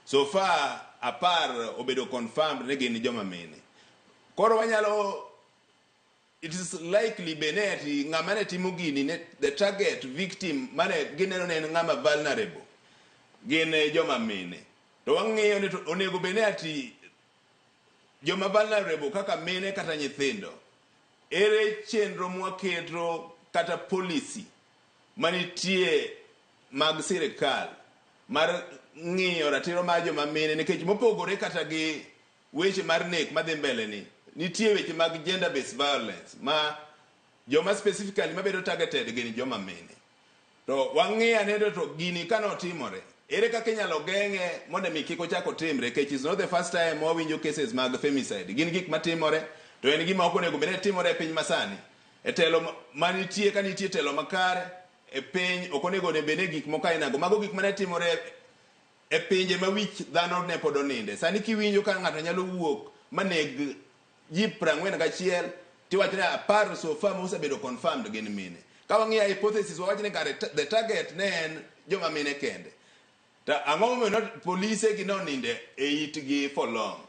So far apar obedo confirmed ni gin joma mine. Koro wanyalo it is likely bene ati ng'ama ne timo gini ne the target victim mane gineno ne en ng'ama vulnerable gin eh, joma mine to wang'eyo ni onego bene ati joma vulnerable kaka mine kata nyithindo ere chenro mwaketo kata policy manitie mag sirkal mar ng'iyo ratiro mar joma mine nikech mopogore kata gi weche mar nek madhi mbele ni nitie weche mag gender based violence ma joma specifically mabedo targeted gin joma mine to wang'iyo aneno to gini kane otimore ere kaka inyalo geng'e mondo mi kik ochak otimre kech is not the first time wawinjo cases mag femicide gin gik matimore to en gima ok onego bed ni timore e piny masani e telo manitie ka nitie telo makare e piny ok onego ne bene gik moko ainago. Mago gik mane timore e pinje ma wich dhano ne pod oninde. Sani kiwinjo ka ng'ato nyalo wuok maneg ji prang'wen gachiel tiwacho ni apar so far mosebedo confirmed gin mine. Ka wang'iyo hypothesis wawacho ni kare the target ne en joma mine kende. To ang'o momiyo polise gi noninde e itgi for long?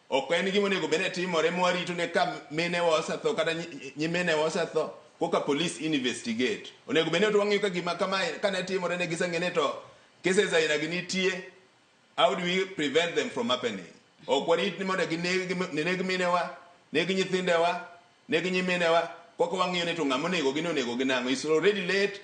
Ok en gima onego bed ni timore ma warito ne ka minewa osetho kata nyiminewa osetho koka police investigate. Onego bed ni to wang'iyo ka gima kama kane timore ne giseng'e ni to cases aina gi nitie, how do we prevent them from happening? Ok warit ni mondo gineg minewa, neg nyithindewa, neg nyiminewa, koka wang'iyo ni to ng'ama onegogi ni onegogi nang'o. It's already late,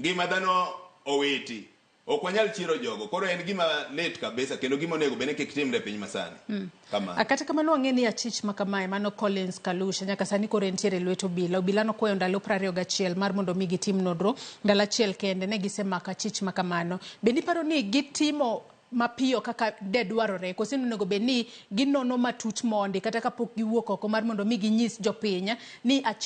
ngima dhano owiti. Ok wanyal chiero jogo. Koro en gima lit kabisa kendo gima onego bene kik timre e piny masani. Mm. Kamano. Kata kamano wang'e ni achich ma kamae mano Collins Kalusha nyaka sani koro entiere e lwet obila. Obila nokwayo ndalo 21 mar mondo mi gitim nodro. Ndalo achiel kende ne gisemako achich ma kamano. Be niparo ni gitimo mapiyo kaka de dwarore koso onego bed ni ginono matut mondi kata kapok giwuok oko mar mondo mi ginyis jopiny ni achich